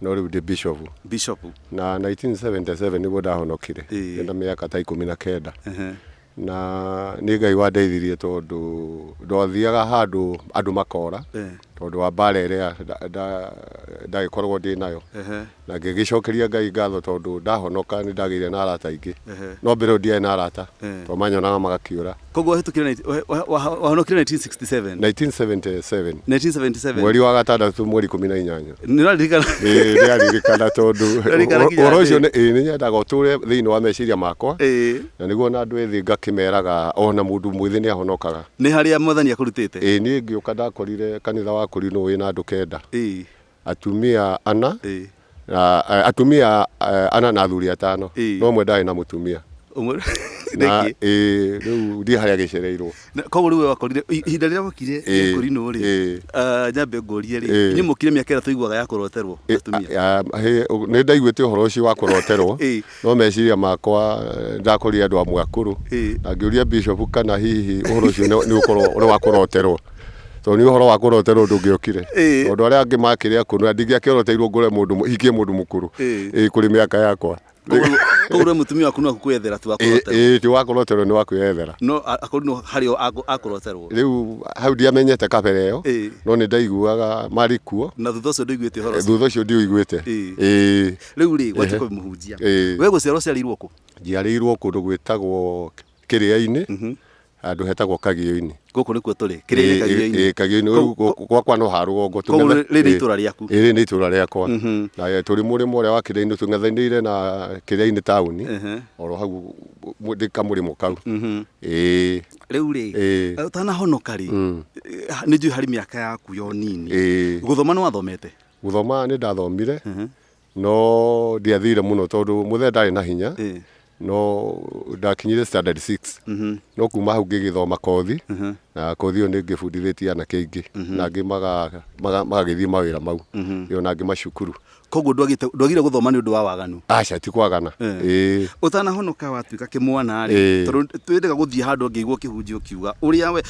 No rĩu ndĩ bishopu. Bishopu. Na 1977 nĩguo ndahonokire. Ĩĩ. Ndĩ na mĩaka ta ikũmi na kenda. Ehe. Na nĩ Ngai wandeithirie tondũ ndathiaga handũ andũ makora. Eeh. Tondũ wa mbara ĩrĩa ndagĩkoragwo ndĩ nayo. Ehe. Na ngĩgĩcokeria Ngai ngatho tondũ ndahonoka nĩ ndagĩire na arata aingĩ. Ehe. No mbere ĩyo ndiarĩ na arata. Eeh. Tondũ manyonaga magakĩũra. Koguo wahĩtũkire na- wahe- wahe- waha- wahonokire 1967 1977 1977 mweri wa gatandatũ mweri ikũmi na inyanya nĩũraririkana Ĩĩ, ndĩraririkana tondũ Ndĩraririkana ũhoro- kinya ũhoro ũcio atĩ- nĩ- ĩĩ, nĩnyendaga ũtũre thĩinĩ wa meciria makwa Ĩĩ. na nĩguo na andũ ethĩ ngakĩmeraga ona mũndũ mwĩthĩ nĩ ahonokaga nĩ harĩa mwathani akũrutĩte ĩĩ niĩ ngĩũka ndakorire kanitha wakũri nũ wĩna andũ kenda Ĩĩ. atumia ana Ĩĩ. na eh, atumia eh, ana na athuri atano Ĩĩ. no mwe ndarĩ na mũtumia Ũmwe- na Nĩkĩ? ĩĩ, rĩu ndiĩ harĩa gĩcereirwo Na- koguo rĩu we wakorire i- ihinda rĩrĩa wokire Ĩĩ. kũrinũ rĩ Ĩĩ. ah, nyambe ngũrie rĩ Ĩĩ. inyuĩ mũkire mĩaka ĩrĩa tũiguaga ya kũroterwo atumia nä ndaiguä te å horo å cio wa kå roterwo Ĩĩ. No meciria makwa ndakorire andũ amwe akũrũ na ngĩũria Bishop kana hihi ũhoro ũcio nĩ ũkorwo ũrĩ wa kũroterwo tondũ nĩ ũhoro wa kũroterwo ndũngĩokire tondũ arĩa angĩ makĩrĩ akũrũ na ndingĩakĩroteirwo ngore mũndũ hikie mũndũ mũkũrũ ĩĩ kũrĩ mĩaka yakwa Koguo rĩu mũtumia waku no gũkwĩyethera ti wa kũroterwo. ĩĩ ti wa kũroterwo nĩ wa kwĩyethera No a- akũrũ no harĩ o akũ- akũroterwo. rĩu hau ndiamenyete kabere ĩyo Ĩĩ. no nĩ ndaiguaga marĩ kuo Na thutha ũcio ndũiguĩte ũhoro ũcio. thutha ũcio ndiũiguĩte Ĩĩ. ĩĩ rĩu rĩ gwatua Ehe. kũmũhunjia Ĩĩ. we gũciarwo ciarĩirwo kũ njiarĩirwo kũndũ gwĩtagwo kĩrĩa-inĩ Mhm. handũ hetagwo kagĩo-inĩ gũkũ nĩkuo tũrĩ Ĩĩ, kĩrĩinĩ kagio-inĩ ĩĩ, kagĩo-inĩ Kũu- Rĩu gũ- gwakwa no ha rũgongo Kũu tũng'ethe- rĩrĩ nĩ ĩĩ, itũũra rĩaku. ĩĩ, rĩrĩ nĩ itũũra rĩakwa Mhm. na eh, tũrĩ mũrĩmo ũrĩa wa kĩrĩa-inĩ tũng'ethanĩire na kĩrĩa-inĩ taũni Ehe. oro hau mũ- ndĩ kamũrĩmo kau Mhm. Ĩĩ, rĩu rĩ Ĩĩ. ũtanahonoka rĩ Mm. eh, nĩ njũĩ harĩ mĩaka yaku yo nini Ĩĩ. gũthoma nĩ wathomete Gũthoma nĩ ndathomire, no ndiathire mũno tondũ mũthee ndarĩ na hinya, no ndakinyire standard six. No kuma hau ngĩgĩthoma kothi, na kothi ĩyo nĩ ngĩbundithĩtie anake aingĩ, na angĩ magagĩthiĩ mawĩra mau, ĩĩ ona angĩ macukuru. Koguo ndwagire gũthoma nĩ ũndũ wa waganu? Aca ti kwagana, ĩĩ. Ũtanahonoka watuĩka kĩmwana rĩ, tondũ nĩ wendaga gũthiĩ handũ ũngĩigua ũkĩhunjia ũkiuga ũrĩa we...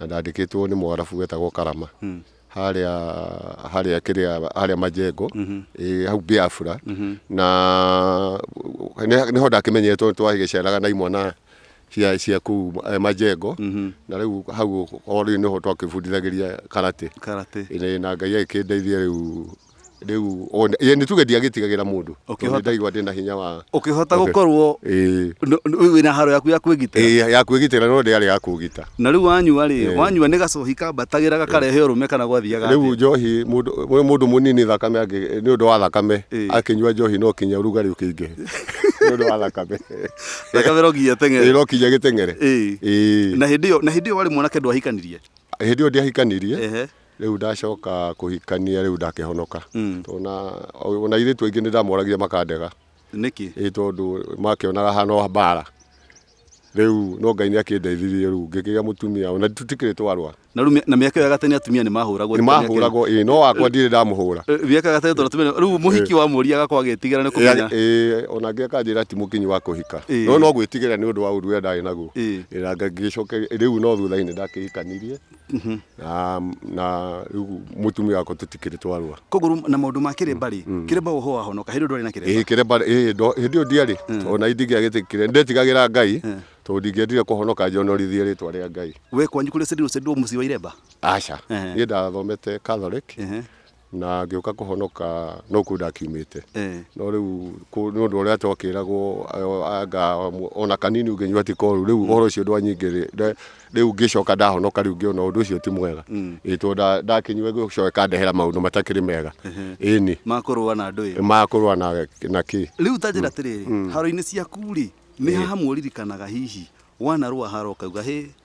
na ndandĩkĩtwo nĩ mwarabu wetagwo karama mm. harĩa harĩa kĩrĩa harĩa majengo mm -hmm. e, hau biafra mm -hmm. na nĩho ndakĩmenyetwo twagĩceraga na imwana cia cia kuu eh, majengo mm -hmm. na riu hau o riu niho twakibundithagĩria karate karate ine na ngai agĩkĩndeithia riu rĩu ona- ye, nĩ tuge ndiagĩtigagĩra mũndũ tondũ Ũkĩhota- ndaigua ndĩ na hinya wa ũkĩhota Okay. gũkorwo Ĩĩ. nũ- nũ- rĩu wĩna haro yaku ya kwĩgitĩra Ĩĩ, ya kwĩgitĩra no ndĩarĩ ya kũgita na rĩu wanyua rĩ Ĩĩ. wanyua nĩ gacohi kambatagĩra gakarehe ũrũme kana gwathiaga rĩu atĩa? njohi mũndũ mũ- mũndũ mũnini thakame angĩ- nĩ ũndũ wa thakame Ĩĩ. akĩnyua njohi no kinya rugarĩ ũkĩingĩhe nĩ ũndũ wa thakame thakame no nginya teng'ere no kinya gĩteng'ere Ĩĩ. Ĩĩ. na hĩndĩ ĩyo na hĩndĩ ĩyo warĩ mwanake ndwahikanirie hĩndĩ ĩyo ndiahikanirie Ehe. Rĩu ndacoka kũhikania rĩu ndakĩhonoka tondũ na ona airĩtu aingĩ nĩndamoragire makandega Nĩkĩ? ĩ tondũ makĩonaga hana o mbara rĩu no Ngai nĩakĩndeithirie rĩu ngĩkĩgĩa mũtumia ona tũtikĩrĩ twarũa Na rĩu mĩ- na mĩaka ĩyo ya gatene atumia nĩ mahũragwo nĩ mĩaka ĩyo. nĩmahũragwo ĩ no wakwa ndirĩ ndamũhũra Eh, Mĩaka ya gatene tondũ atumia nĩ- rĩu mũhiki wa mũria agakorwo agĩtigĩra nĩ kũmenya. Ĩ, ona angĩ akanjĩra ti mũkinyi wa kũhika Ĩ. no no gwĩtigĩra nĩ ũndũ wa ũndũ ũrĩa ndarĩ naguo Ĩ. Ĩ, na ngagĩcoke rĩu no thutha-inĩ ndakĩhikanirie na na rĩu mũtumia wakwa tũtikĩrĩ twarũa koguo rĩu na maũndũ ma kĩrĩmba rĩ kĩrĩmba ũhũ wahonoka hĩndĩ ĩyo ndwarĩ na kĩrĩmba ĩĩ kĩremba ĩĩ ndo- hĩndĩ ĩyo ndiarĩ ona indingĩa gĩtĩ kĩrĩa ndetigagĩra ngai tondũ ndingĩendire kũhonoka njonorithie rĩtwa rĩa ngai we kwanyu kũrĩ sendirwo sendirwo mũciĩ wa iremba aca Ehe. niĩ ndathomete catholic Ehe. na ngĩũka kũhonoka no kuo ndakiumĩte Eh. no rĩu kũ- nĩ ũndũ ũrĩa twakĩragwo ayo- anga mu- ona kanini ũngĩnyua ti koru rĩu ũhoro ũcio ndwanyingĩrĩ nda- rĩu ngĩcoka ndahonoka rĩu ngĩona ũndũ ũcio ti mwega ĩĩ tondũ nda- ndakinyua gĩcoka ĩkandehera maũndũ matakĩrĩ mega ĩni makũrũa na andũ ĩyo makũrũa na na kĩ rĩu ta njĩra atĩrĩrĩ haro-inĩ ciaku rĩ nĩ haha muririkanaga hihi wanarũa haro ũkauga hĩ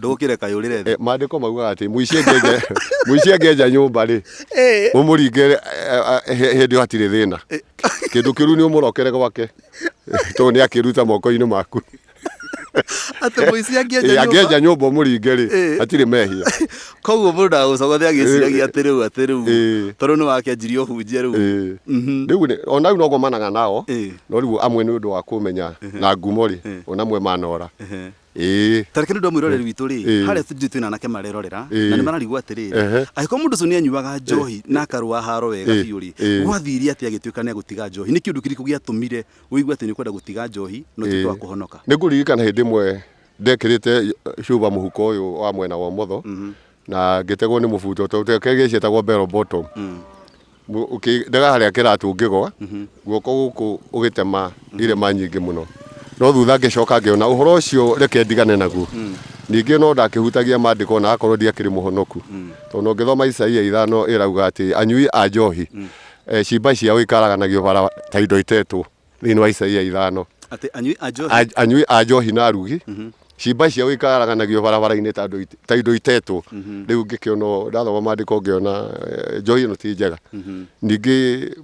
Ndũkĩre kaĩ ũrĩre thĩ. Eh, maandĩko maugaga atĩ mũici angĩenja mũici angĩenja nyũmba rĩ Eh. ũmũringe eh, eh, he- hĩndĩ ĩyo hatirĩ thĩna kĩndũ kĩru nĩ ũmũrokere gwake tondũ nĩ akĩruta moko-inĩ maku Atĩ mũici angĩenja Eh, nyũmba. angĩenja nyũmba ũmũringe rĩ Eh. hatirĩ mehia Koguo mũndũ ndagũcogothe agĩciragia atĩ rĩu atĩ rĩu. Eh. Tondũ nĩ wakĩanjirie ũhunjia rĩu. Eh. Mhm. rĩu nĩ- ona rĩu no ngomanaga nao Eh. no rĩu amwe nĩ ũndũ wa kũmenya na ngumo rĩ ona amwe manora Ehe. Ĩĩ. Ta reke rĩu ndwa mwĩroreri witũ rĩ, Ĩĩ. harĩa studio twĩna anake marerorera Ĩĩ. na nĩ mararigwo atĩrĩrĩ, Ehe. angĩkorwo mũndũ ũcio nĩ anyuaga njohi na akarũa haro wega Ĩĩ. biũ rĩ, Ĩĩ. gwathire atĩa agĩtuĩka nĩ egũtiga njohi? Nĩ kĩũndũ kĩrĩkũ gĩatũmire ũigue atĩ nĩ ũkwenda gũtiga njohi na ũtuĩke Ĩĩ. wa kũhonoka? Nĩ ngũririkana hĩndĩ ĩmwe ndekĩrĩte cuba mũhuko ũyũ wa mwena wa ũmotho na ngĩtegwo nĩ mũbuto tondũ te- ke- gĩaci etagwo bell bottom Mu- ũkĩ- ndega harĩa kĩratũ ngĩgwa guoko gũkũ ũgĩtema irĩma nyingĩ mũno no thutha ngĩcoka ngĩona ũhoro ũcio reke ndigane naguo ningĩ no ndakĩhutagia mandĩko na akorwo ndiakĩrĩ mũhonoku tondũ no ngĩthoma isaia ithano ĩrauga atĩ anyui a njohi eh, ciimba ciao ikaraganagio bara ta indo itetwo thĩinĩ wa Isaia ithano Atĩ anyui a njohi. A- anyui a njohi na arugi ciimba ciao ikaraganagio barabara-inĩ ta andũ ite- ta indo itetwo rĩu ngĩkĩona ndathoma maandĩko ngĩona eh, njohi ĩno ti njega ningĩ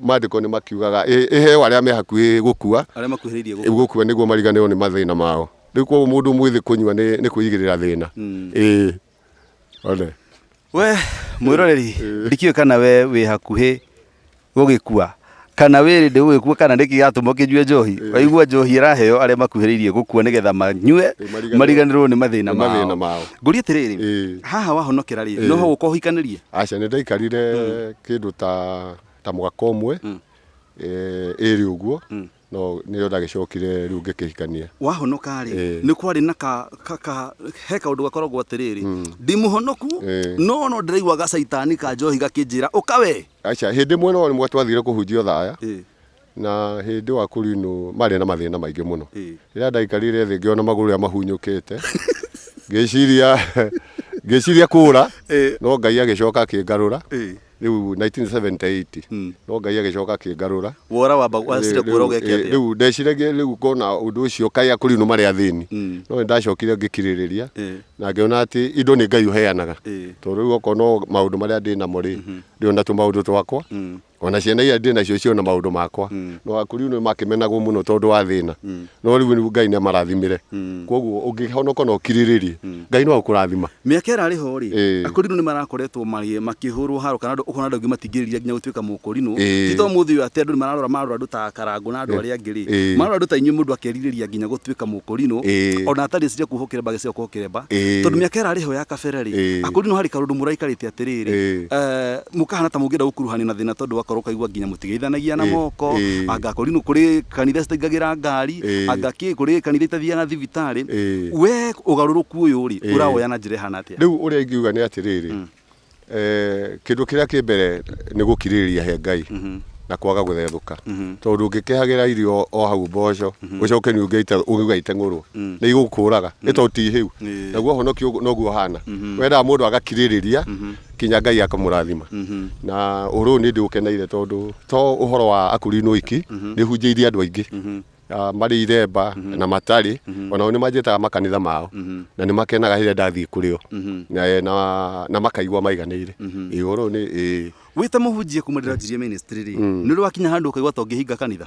maandĩko nĩ makiugaga "Ĩ- ĩheo arĩa me hakuhĩ gũkua Arĩa makuhĩrĩirie gũkũ. gũkua nĩguo mariganĩrwo nĩ mathĩna mao rĩu koguo mũndũ mwĩthĩ kũnyua nĩ nĩ kwĩigĩrĩra thĩna ĩĩ Ole. we mwiroreri ndikiwe kana we wĩ hakuhĩ gũgĩkua kana wĩ rĩndĩ gũgĩkua kana nĩkĩ gĩatũma ũkĩnyue njohi waigua njohi ĩraheo arĩa makuhĩrĩirie gũkua nĩgetha manyue Mariganĩrwo- mariganĩrwo nĩ mathĩna mathĩna mao mao. ngũria atĩrĩrĩ Ĩĩ. haha wahonokera rĩ no ho ũka ũhikanĩrie aca nä ndaikarire kä ndå ta ta mwaka å mwe ä rä å guo No nĩrĩo ndagĩcokire rĩu ngĩkĩhikania. Wahonoka-rĩ, Ĩĩ. nĩ kwarĩ na ka, ka, ka, he kaũndũ gakoragwo atĩrĩrĩ, ndi mũhonoku, Ĩĩ. no no ndĩraigua gacaitani ka njohi gakĩnjĩra, ũka wee! Aca, hĩndĩ ĩmwe no rĩmwe twathire kũhunjia ũthaya, Ĩĩ. na hĩndĩ wa kũrinũ marĩ na mathĩna maingĩ mũno. Ĩĩ. Rĩrĩa ndaikarire thĩ ngĩona magũrũ rĩa mahunyũkĩte, ngĩciria ngĩciria kũra, Ĩĩ. no Ngai agĩcoka akĩngarũra, Ĩĩ. Rĩu 1978 hmm. no Ngai agĩcoka akĩngarũra. Wora wamba wacire kuora ũgeke atĩa? Rĩu ndeciragia rĩu kona ũndũ ũcio kaĩ akũri no marĩ athĩni. Hmm. No ndacokire ngĩkirĩrĩria eh. na ngĩona atĩ indo nĩ Ngai ũheanaga. Eh. Tondũ rĩu okorwo no maũndũ marĩa ndĩ namo rĩ, mhm. ndĩona tũ maũndũ twakwa hmm. ona ciana iria ndĩ nacio ciona maũndũ makwa no akũri nĩ makĩmenagwo mũno tondũ wa thĩna no rĩu rĩu ngai nĩ amarathimire koguo ũngĩhonoka na ũkirĩrĩrie ngai no akũrathima mĩaka ĩrarĩ ho rĩ Ĩĩ. akũrinũ nĩ marakoretwo marĩ- makĩhũrwo haro kana andũ- ũkona andũ angĩ matingĩrĩria nginya gũtuĩka mũkũrinũ Ĩĩ. ti to mũthĩ ũyũ atĩ andũ nĩ mararora marora andũ ta karangũ na andũ arĩa angĩ rĩ Ĩĩ. marora andũ ta inyuĩ mũndũ akerirĩria nginya gũtuĩka mũkũrinũ Ĩĩ. ona atarĩ cia kuhokera mba agĩciga kuhokera mba Ĩĩ. tondũ mĩaka ĩrarĩ ho ya kabere rĩ Ĩĩ. akũrinũ harĩ karũndũ mũraikarĩte atĩrĩrĩ Ĩĩ. eh, mũkahana ta mũngĩenda gũkuruhanio na thĩna tondũ wakorwo ũkaigua nginya mũtigeithanagia na Ĩĩ, moko ĩĩ. anga kũri nũ kũrĩ kanitha citaingagĩra ngari Ĩĩ. anga kĩ kũrĩ kanitha itathiaga thibitarĩ Ĩĩ. we ũgarũrũku ũyũ rĩ Ĩĩ. ũrawoya na njĩra ĩhana atĩa rĩu ũrĩa ingiuga nĩ atĩrĩrĩ eh, kĩndũ kĩrĩa kĩ mbere nĩ gũkirĩrĩria he ngai na kwaga gũthethũka tondũ ũngĩkehagĩra irio o hau mboco ũcoke nĩ ũngĩite- ũngĩuga iteng'ũrwo nĩ igũkũraga nĩ tondũ ti hĩu Ĩĩ. naguo ũhonokio ũguo- noguo ũhana wendaga mũndũ agakirĩrĩria kinya ngai akamũrathima na ũhoro ũyũ nĩ ndĩ ũkeneire tondũ to ũhoro wa akũrinwo iki nĩ hunjĩirie andũ aingĩ Ah, marĩ iremba na matarĩ onao nĩ manjĩtaga makanitha mao na nĩ makenaga rĩrĩa ndathiĩ kũrĩ o Na, eh, na- na makaigua maiganĩire Ĩ, ũhoro ũyũ nĩ ĩ, wä ta må hunjia kuma ndä ranjirie nä rä wakinya handå å kaigua ta å ngä hinga kanitha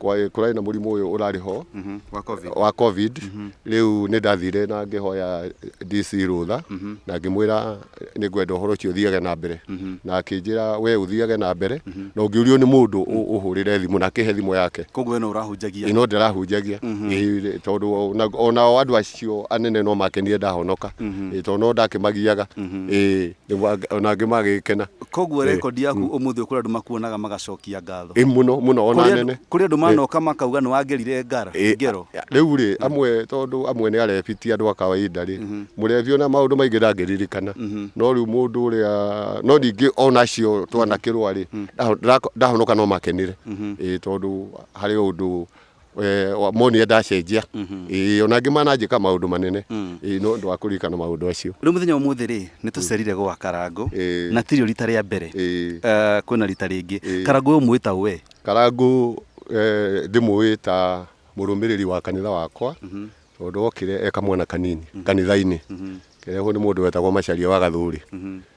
kũrarĩ na mũrimũ ũyũ ũrarĩ ho mhm, wa covid mhm. rĩu nĩ ndathire na ngĩhoya DC rũtha mhm. na ngĩmwĩra nĩ ngwenda ũhoro ũcio ũthiage na mbere na akĩnjĩra we ũthiage na mbere na ũngĩũrio nĩ mũndũ ũhũrĩre thimũ na akĩhe thimũ yake koguo ĩno ũrahunjagia ĩno ndĩrahunjagia tondũ onao andũ acio anene no makenire ndahonoka tondũ no ndakĩmagiaga ĩĩ nĩguo ang- ona angĩ magĩkena koguo rekondi yaku ũmũthĩ kũrĩ andũ makuonaga magacokia ngatho ĩ mũno mũno ona Kũrĩ andũ- nene kũrĩ andũ manoka makauga nĩ wangerire ngara Ĩ, ngero a- rĩu rĩ amwe tondũ amwe nĩ arebi ti andũ a kawaida rĩ mũrebi ona maũndũ maingĩ ndangĩririkana no rĩu mũndũ ũrĩa no ningĩ ona acio twanakĩrwa rĩ ndaho- ndako- ndahonoka no makenire Ĩ, tondũ harĩ ũndũ eh, wa- monie ndacenjia Ĩĩ, ona angĩ mananjĩka maũndũ manene Ĩĩ, no ũndũ wa kũririkana maũndũ acio rä u må thenya å må thä rä nä tå cerire gwa karangå Ĩĩ. na tirio rita rä a mbere Ĩĩ. Eh, kwä na rita rä ngä Ĩĩ. karangå å yå mwä ta å we karangũ eh, ndĩmũĩ ta mũrũmĩrĩri wa kanitha wakwa tondå okire eka mwana kanini kanitha-inĩ kerehwo nĩ mũndũ wetagwo macaria wa gathũrĩ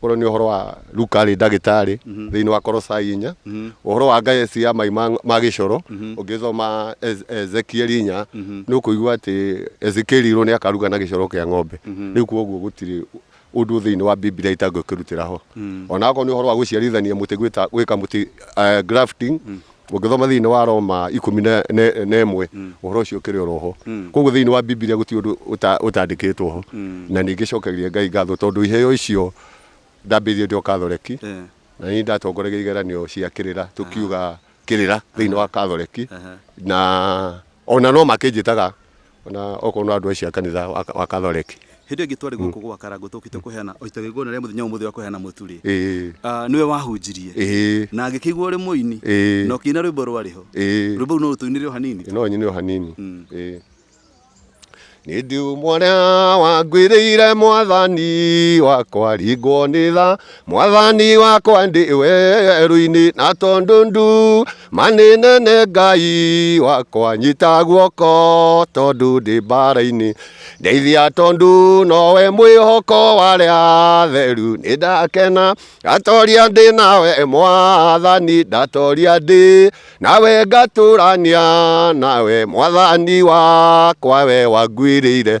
Korwo nĩ ũhoro wa Luka arĩ ndagĩtarĩ thĩinĩ wa Korosai inya, ũhoro wa ngayeci ya mai ma, ma gĩcoro ũngĩcoma Ez- Ezekieli inya nĩ ũkũigua atĩ Ezekieli irwo nĩ akaruga na gĩcoro kĩa ng'ombe. Rĩu koguo gũtirĩ ũndũ thĩinĩ wa Biblia itangĩkĩrutĩra ho. Ona akorwo nĩ ũhoro wa gũciarithania mũtĩ gwĩta, gwĩka mũtĩ eh, grafting, Ũngĩthoma thĩinĩ wa Roma ikũmi na ĩmwe, ũhoro ũcio ũkĩrĩ oro ho. Kwoguo thĩinĩ wa Bibilia gũtirĩ ũndũ ũtandĩkĩtwo ho. Na ningĩ cokagĩria Ngai ngatho tondũ iheo icio ndambĩrĩirie ndĩ o Kathoreki, na nĩ niĩ ndatongoragia igeranio cia kĩrĩra, tũkiuga kĩrĩra thĩinĩ wa Kathoreki. Na o na no makĩnjĩtaga Ona okorwo no andũ acio a kanitha wa wa Catholic. Hĩndĩ ĩyo ĩngĩ twarĩ gũkũ gwa Karangũ tũũkĩte kũheana o itagĩrĩria igongona rĩa mũthenya wa ũmũthĩ wa kũheana mũtu rĩ, Ĩĩ. ah, nĩwe wahunjirie Ĩĩ. na ngĩkĩigua ũrĩ mũini Ĩĩ. na ũkĩina rwĩmbo rwarĩ ho. Ĩĩ. Rwĩmbo rũu no ũtũinĩre o hanini? No nyine o hanini. Mm. Ĩĩ. Nĩ ndiuma ũrĩa wangwĩrĩire mwathani wakwa ringwo nĩ tha mwathani wakwa ndĩ werũ-inĩ na tondũ ndu manĩ nene ngai wakwa nyita guoko tondũ ndĩ mbara-inĩ ndeithia tondũ nowe mwĩhoko warĩa atheru nĩ ndakena ndatoria ndĩ nawe mwathani ndatoria ndĩ nawe ngatũrania nawe mwathani wakwa we wangwĩrĩire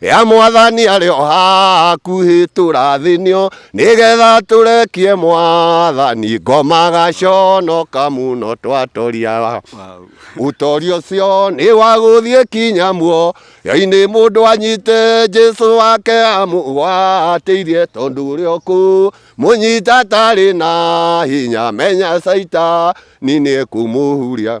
ya mwathani arĩ o hakuhĩ tũrathĩnio nĩgetha tũrekie mwathani ngomaga conoka mũno twatoria Wow. ũtoria ũcio nĩ wa gũthiĩ kinya muo yainĩ mũndũ anyite jesu wake amũgwatĩirie tondũ ũrĩ okũ mũnyita tarĩ na hinya menya caita ninĩ kũmũhuria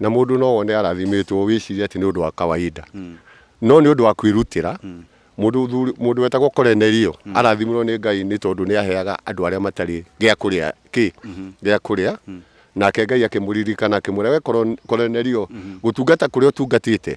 Na mũndũ no one arathimĩtwo wĩcirie atĩ nĩ ũndũ wa kawaida. No nĩ ũndũ wa kwĩrutĩra, mũndũ wetagwo Korenelio arathimirwo nĩ Ngai nĩ tondũ nĩ aheaga andũ arĩa matarĩ gĩa kũrĩa, kĩ? Gĩa kũrĩa. Nake Ngai akĩmũririkana akĩmwĩra, Wee Korenelio, gũtungata kũrĩa ũtungatĩte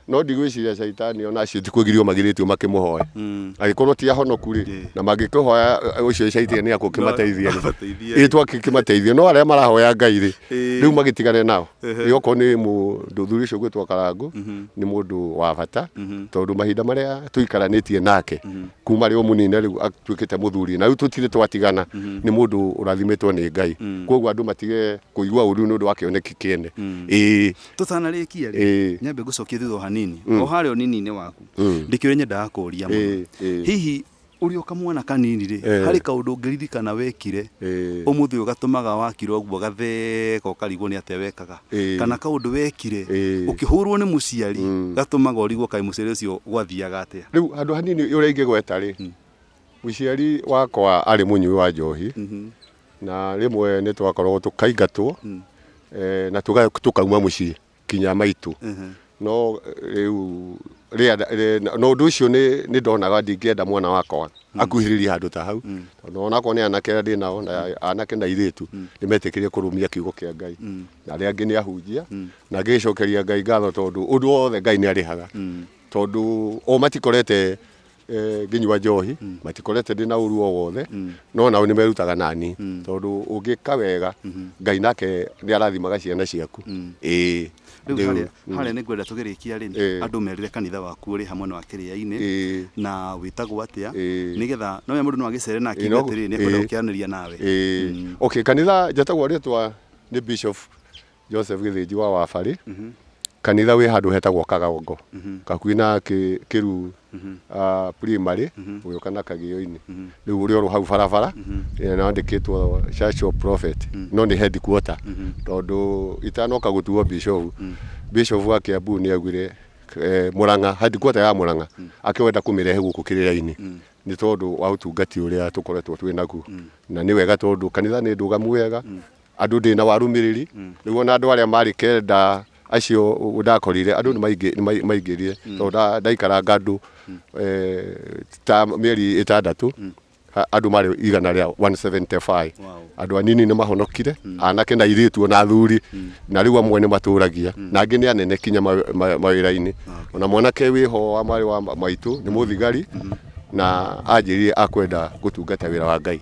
No ndigwĩciria Shaitani ona acio ti kũgirio magirĩtio makĩmũhoya. Mm. Agĩkorwo ti ahonoku rĩ, Ĩĩ. na mangĩkĩhoya eh, ũcio Shaitani nĩ akũkĩmateithia rĩ. Amateithie. Ĩĩ twakĩmateithia no arĩa marahoya Ngai rĩ, Ĩĩ. rĩu magĩtigane nao. Ehe. Rĩu okorwo nĩ mũthuri ũcio gwĩtwo Karangũ nĩ mũndũ wa bata tondũ mahinda marĩa tũikaranĩtie nake kuma rĩ o mũnini rĩu atuĩkĩte mũthuri na rĩu tũtirĩ twatigana nĩ mũndũ ũrathimĩtwo nĩ Ngai. Kwoguo andũ matige kũigua ũru nĩ ũndũ wa kĩoneki kĩene. Ĩĩ. tũtanarĩkia rĩ Ĩĩ. nyambe ngũcokie thutha o hanini o harĩa ũnini-inĩ waku Mm. ndĩkĩ ũrĩa nyendaga kũũria mũno Ĩĩ, ĩĩ. hihi ũrĩ o kamwana kanini rĩ Eh. harĩ kaũndũ ũngĩririkana wekire Ĩĩ. ũmũthĩ ũyũ gatũmaga wakira ũguo gatheka ũkarigwo nĩ atĩa wekaga Ĩĩ. kana kaũndũ wekire Ĩĩ. ũkĩhũrwo nĩ mũciari Mm. gatũmaga ũrigwo kaĩ mũciari ũcio gwathiaga atĩa rä u handå hanini å rä a ingä gweta rä mũciari wakwa arä må nyui wa njohi Mhm. Na rĩmwe nĩ twakoragwo tũkaingatwo mm. e, na tũkauma mũciĩ kinya maitũ mm -hmm. no rĩu na ũndũ ũcio nĩ ndonaga ndingĩenda mwana wakwa mm. akuhĩrĩrie handũ ta hau mm. tondũ onakorwo nĩ anake arĩa ndĩ nao na mm. anake na airĩtu mm. nĩ metĩkĩrie kũrũmia kiugo kĩa ngai mm. na arĩa angĩ nĩ ahunjia mm. na ngĩgĩcokeria ngai ngatho tondũ ũndũ wothe ngai nĩ arĩhaga mm. tondũ o matikorete eh, ngĩnyua njohi matikorete ndĩ na ũru o wothe no nao nĩ merutaga nani tondũ ũngĩka wega ngai nake nĩ arathimaga ciana ciaku ĩĩ rĩu Rĩu, harĩa mm. harĩa nĩ ngwenda tũgĩrĩkia rĩ Eh. andũ merire kanitha waku ũrĩ hamwe na wa kĩrĩainĩ Eh. na wĩtagwo atĩa Eh. nĩgetha no we mũndũ no agĩcere na Eh, akĩnga no- atĩrĩ nĩ akwenda eh. gũkĩaranĩria nawe Ĩĩ. okay kanitha njatagwo rĩtwa nĩ bishop Joseph Gĩthĩnji wa Wabarĩ, kanitha wĩ handũ hetagwo Kagongo, gakuhĩ na Kĩ- Kĩruu ah, primary, ũgĩũka na Kagĩo-inĩ. Rĩu ũrĩ oro hau barabara, eh, na wandĩkĩtwo Church of Prophet, no nĩ headquarter, tondũ itanoka gũtuo Bishop, Bishop wa Kiambu nĩ augire eh, Mũrang'a, headquarter ya Mũrang'a, akĩwenda kũmĩrehe gũkũ kĩrĩra-inĩ nĩ tondũ wa ũtungati ũrĩa tũkoretwo twĩ naguo na nĩ wega tondũ kanitha nĩ ndũgamu wega Andũ ndĩ na warũmĩrĩri mm. nĩguo na andũ arĩa marĩ kenda acio ndakorire andũ nĩ maingĩrire mm. tondũ ndaikaranga andũ mm. eh, ta mĩeri ĩtandatũ mm. andå marä igana rä a 175 andå anini nä mahonokire anake na irä tuo na thuri na rä u amwe nä matå ragia na angä nä anene kinya mawä ra-inä ona mwanake wä ho wa marä wa maitå nä må thigari na anjä rire akwenda gå tungata wä ra wa ngai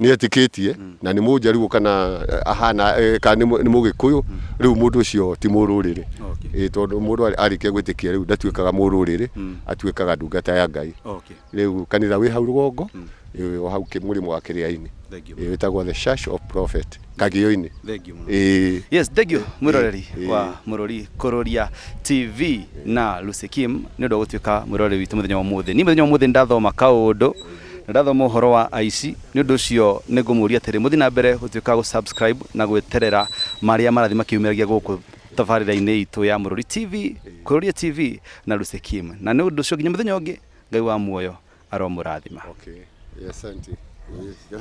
nĩ etĩkĩtie na nĩ mũnjaruo kana eh, ahana eh, kana nĩ mũ- nĩ mũgĩkũyũ rĩu mũndũ ũcio ti mũrũrĩrĩ Okay. Ĩ, tondũ mũndũ arĩ- arĩkia gwĩtĩkia rĩu ndatuĩkaga mũrũrĩrĩ atuĩkaga ndungata ya ngai Okay. rĩu kanitha wĩ hau rũgongo ĩ, o hau kĩ- mũrĩmo wa kĩrĩa-inĩ Thank you. Ĩ, wĩtagwo the church of prophet kagĩo-inĩ Thank you mũno. Ĩ, yes thank you mwĩroreri eh. wa mũrũri kũrũria tv na lucy kim nĩ ũndũ wa gũtuĩka mwĩroreri witũ mũthenya wa ũmũthĩ niĩ mũthenya wa ũmũthĩ nĩ ndathoma kaũndũ Na ndathoma ũhoro wa aici, nĩ ũndũ ũcio nĩ ngũmũũria atĩrĩ, mũthiĩ na mbere gũtuĩka a gũ-subscribe na gwĩterera marĩa marathiĩ makĩyumĩragia gũkũ tabarĩra-inĩ itũ ya Mũrũri TV, Kũrũria TV na Lucy Kim. Na nĩ ũndũ ũcio nginya mũthenya ũngĩ, Ngai wa muoyo aromũrathima. Okay. Asante.